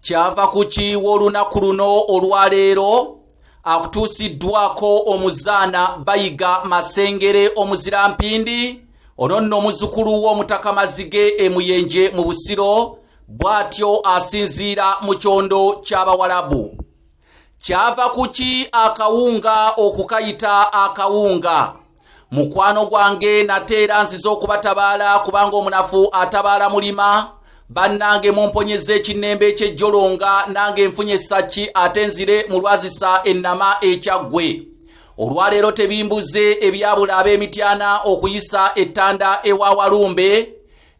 kyava ku kiiwa olunaku luno olwaleero akutuusiddwako omuzaana bayiga masengere omuzira mpindi ono nno omuzukulu w'omutaka mazige emuyenje mu busiro bw'atyo asinziira mu kyondo ky'abawalabu kyava kuki akawunga okukayita akawunga mukwano gwange nate era nziza okubatabaala kubanga omunafu atabaala mulima bannange mumponyeza ekinnembe ekyejjolonga nange nfunye essaki ate nzire mu lwazisa ennama ekyaggwe olwaleero tebimbuze ebyabula ab'emityana okuyisa ettanda ewa walumbe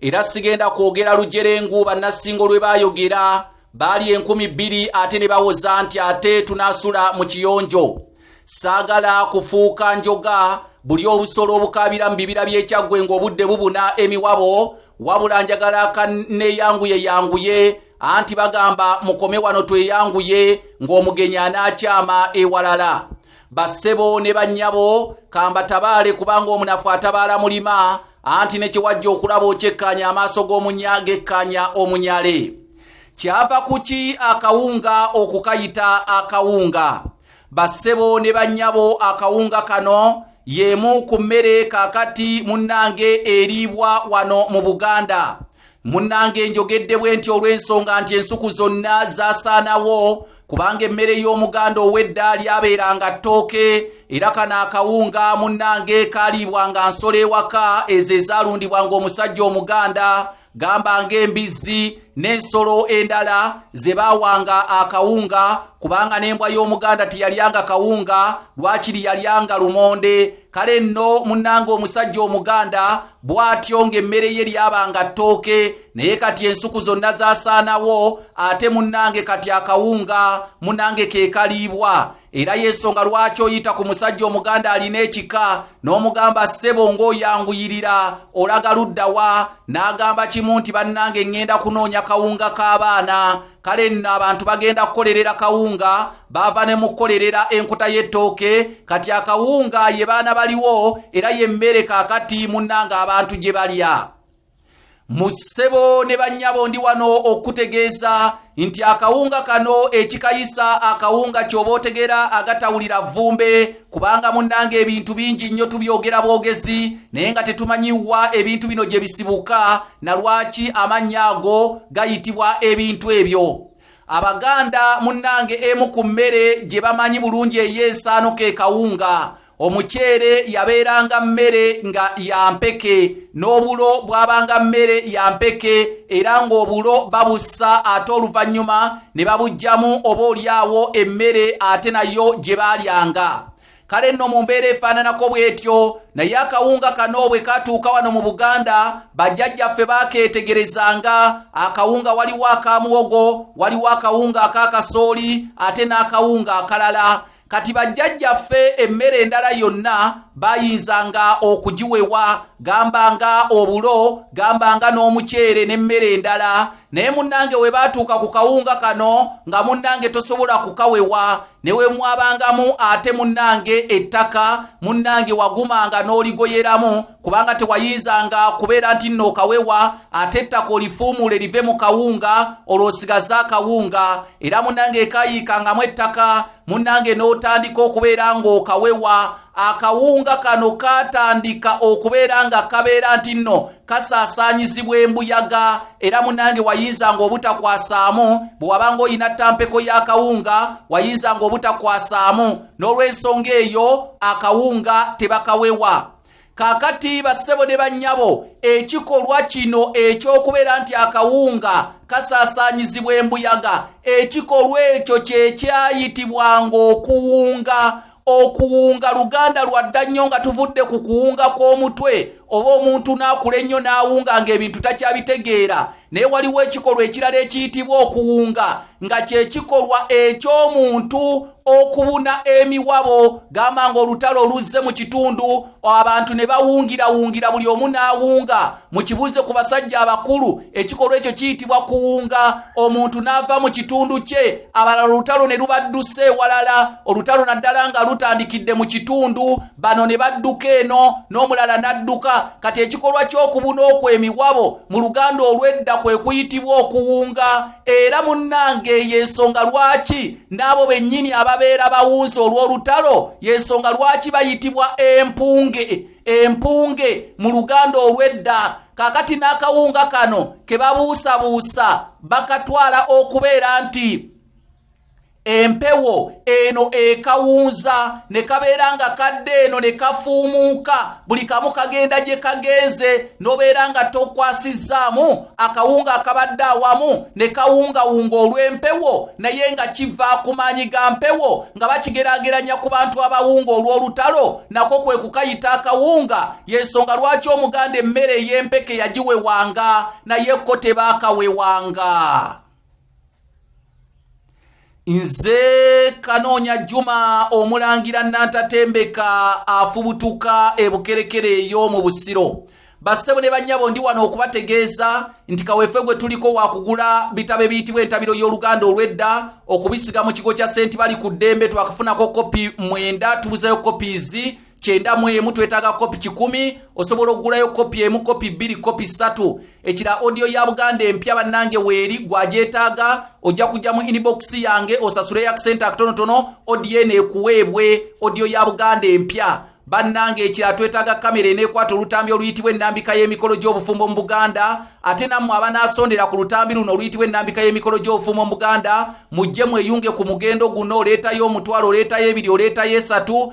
era sigenda kwogera lujerengu bannasingo lwe baayogera baali enkumi bbiri ate ne bawoza nti ate tunaasula mu kiyonjo saagala kufuuka njoga buli obusolo obukaabira mu bibira by'ekyaggwe ng'obudde bubuna emiwabo wabula njagala kaneeyanguye yanguye anti bagamba mukome wano tweyanguye ng'omugenyi anaakyama ewalala bassebo ne bannyabo kambatabaale kubanga omunafu atabaala mulima anti ne kye wajja okulaba okyekkaanya amaaso g'omunya gekkaanya omunyale kyava kuki akawunga okukayita akawunga bassebo ne bannyabo akawunga kano y'emu ku mmere kakati munnange eriibwa wano mu buganda munnange njogedde bwe nti olw'ensonga nti ensuku zonna zasaanawo kubanga emmere y'omuganda ow'edda lyabeeranga ttooke era kano akawunga munnange kaaliibwanga nsolo ewaka ezo ezaalundibwanga omusajja omuganda gamba ng'embizzi n'ensolo endala ze baawanga akawunga kubanga n'embwa y'omuganda teyalyanga kawunga lwakiri yalyanga lumonde kale nno munnanga omusajja omuganda bw'atyo ng'emmere ye lyabanga ttooke naye kati ensuku zonna zaasaanawo ate munnange kati akawunga munnange ke kaliibwa era y'ensonga lwaki oyita ku musajja omuganda alina ekika n'omugamba ssebo ng'oyanguyirira olaga ludda wa n'agamba kimu nti bannange ŋŋenda kunoonya kawunga k'abaana kale nno abantu bagenda kukolerera kawunga baava ne mu kukolerera enkuta y'ettooke kati akawunga ye baana baliwo era y'emmere kaakati munnange abantu gye balya mu ssebo ne bannyabo ndi wano okutegeeza nti akawunga kano ekikayisa akawunga ky'oba otegera agatawulira vvumbe kubanga munnanga ebintu bingi nnyo tubyogera bwogezi naye nga tetumanyiwa ebintu bino gye bisibuka na lwaki amannya ago gayitibwa ebintu ebyo abaganda munnange emu ku mmere gye bamanyi bulungi ey'ensaano ke kawunga omuceere yabeeranga mmere nga ya mpeke n'obulo bwabanga mmere ya mpeke era ng'obulo babussa ate oluvannyuma ne babugyamu oba olyawo emmere ate nayo gye baalyanga kale nno mu mbeera efaananako bw'etyo naye akawunga kano bwe katuuka wano mu buganda bajjajjaffe baakeetegerezanga akawunga waliwo aka muwogo waliwo akawunga aka kasooli ate n'akawunga akalala kati bajjajjaffe emmere endala yonna bayinzanga okugiwewa gamba nga obulo gamba nga n'omuceere n'emmere endala naye munnange we baatuuka ku kawunga kano nga munnange tosobola kukawewa ne we mwabangamu ate munnange ettaka munnange wagumanga n'oligoyeramu kubanga tewayinzanga kubeera nti nno okawewa ate ettaka olifuumuule live mu kawunga olwosigaza akawunga era munange ekayiikangamu ettaka munange n'otandika okubeera ng'okawewa akawunga kano katandika okubeera nga kabeera nti nno kasaasaanyizibwa embuyaga era munange wayinzanga obutakwasaamu bwe wabanga olina ttampeko y'akawunga wayinzanga obutakwasaamu n'olw'ensonga eyo akawunga tebakawewa kakati bassebo ne bannyabo ekikolwa kino eky'okubeera nti akawunga kasaasaanyizibwa embuyaga ekikolwa ekyo kye kyayitibwanga okuwunga okuwunga luganda lwadda nnyo nga tuvudde ku kuwunga kw'omutwe oba omuntu n'akula ennyo n'awunga ng'ebintu takyabitegeera naye waliwo ekikolwa ekirala ekiyitibwa okuwunga nga kyekikolwa eky'omuntu okubuna emiwabo gamba nga olutalo oluzze mu kitundu abantu ne bawungirawungira buli omu n'awunga mu kibuuze ku basajja abakulu ekikolwa ekyo kiyitibwa kuwunga omuntu n'ava mu kitundu kye abalala olutalo ne lubadduse ewalala olutalo naddala nga lutandikidde mu kitundu bano ne badduka eno n'omulala n'adduka kati ekikolwa ky'okubuna okwo emiwabo mu luganda olw'edda kwe kuyitibwa okuwunga era munnange eyo ensonga lwaki n'abo bennyini ababeera bawunzi olw'olutalo y'ensonga lwaki bayitibwa empunge empunge mu luganda olw'edda kakati n'akawunga kano ke babuusabuusa bakatwala okubeera nti empewo eno ekawunza ne kabeera nga kadde eno ne kafuumuuka buli kamu kagenda gye kagenze n'obeera nga tokwasizzaamu akawunga akabadde awamu ne kawungawunga olw'empewo naye nga kiva ku maanyi ga mpewo nga bakigeraageranya ku bantu abawunga olw'olutalo nako kwe kukayita akawunga y'ensonga lwaki omuganda emmere ey'empeke yagiwewanga naye kko tebaakawewanga nze kanoonya juma omulangira nantatembeka afubutuka ebukerekere eyo mu busiro bassebo ne bannyabo ndi wano okubategeeza nti kaweefe gwe tuliko wakugula bitabo ebiyitibwa entabiro y'oluganda olw'edda okubisiga mu kigo kya senti bali ku ddembe twakafunako kopi mwenda tubuzayo kopizi kyenda mu emu twetaaga kopi kikumi osobola okugulayo kopi emu kopi bbiri kopi ssatu ekira audio ya buganda empya bannange weeri gwagyetaaga ojja kujja mu inbox yange osasule yakusente akatonotono audio eno ekuweebwe audio ya buganda empya bannange ekira twetaaga kamera eneekwata olutambi oluyitibwa ennambika y'emikolo gy'obufumbo mu buganda ate nammwe abanaasondera ku lutambi luno oluyitibwa ennambika y'emikolo gy'obufumbo mu buganda mujje mweyunge ku mugendo guno oleetayo omutwalo oleetayo ebiri oleetayo esatu